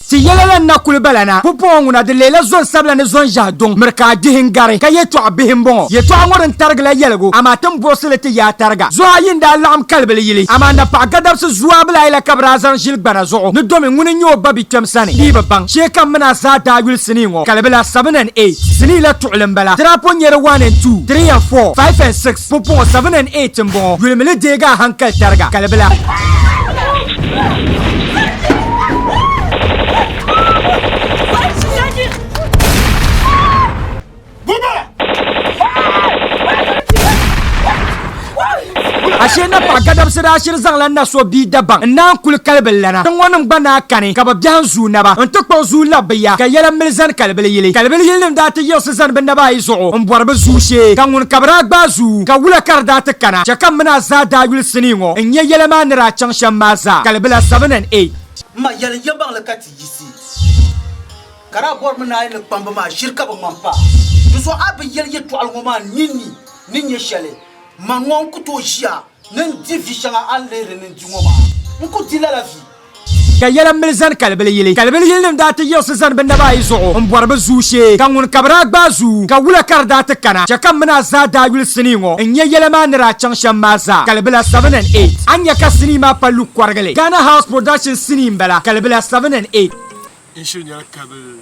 Ti yɛla la n-na kuli bala na, pumpɔŋɔ ŋuna di leela zɔn sabila ni zɔn ʒɛhi duŋ miri ka a dihi n-gari, ka yɛtɔɣ bihi m-bɔŋɔ. Yɛtɔɣ ŋɔ din tarigi la yɛligu, amaa ti ni buɣisi li ti yaa tariga. Zuɣu ayi n-daa laɣim kalibili yili, amaa napaɣ gadabisi zuabil ayi la ka bɛ daa zaŋ ʒili gbana zuɣu ni domi ŋuni n-nyɛ o ba bi'kpɛm sani bee bi baŋ. Shee kam mini a zaa daa yuli sinii ŋɔ kalibila, seven and eight, sinii la tuɣili m-bala, ti daa po nyari one and two, three and four, five and six, Pupuɣu 7 and 8 m-bɔŋɔ. Yulimili deegi a hankali tariga, kalibila. Ashe na paɣa gadabisira ashiri zaŋla na so bia dabaŋ n naan kuli kalibi lana ti ŋɔ nim gba naa kani ka bi biɛhi n zuu naba n ti kpuɣi zuu labi bi ya ka yɛla mili zani kalibili yili kalibili yili nim daa ti yiɣisi zani bɛ naba ayi zuɣu m-bɔri bɛ zuu shee, ka ŋun ka bɛ daa gbaai zuu, ka wula ka di daa ti kana, chɛ ka m mini a zaa daa yuli sinii ŋɔ n-nya yɛla maa ni daa chaŋ shɛm maa zaa, Kalibila 7 and 8. M ma, yɛli n yɛlimaŋli ka ti yiɣisi, ka daa bɔrimi ni a yi ni kpambi ma a ʒiri ka bi ŋma m pa di zuɣu. A bi yɛli yɛtɔɣili ŋɔ maa ninni ni nyɛ shɛli, man ŋɔ n ku tooi ʒiya. Ni n di vi shɛŋa a ni lihiri ni n di ŋɔ maa, n ku di lala vi. Ka yɛla mili zani kalibili yili. Kalibili yilinim daa ti yiɣisi zani bɛ naba ayi zuɣu m-bɔri bɛ zuu shee, ka ŋun ka bɛ daa gbaai zuu, ka wula ka di daa ti kana. Chɛ ka m mini a zaa daa yuli sinii ŋɔ n-nya yɛla maa ni daa chaŋ shɛm maa zaa. Kalibila, 7 and 8. A ni nya ka sinii maa pa Luke Kɔrigili. Ghana House Productions sinii m-bala, Kalibila, 7 and 8. N-shiri nyɛla kalibili.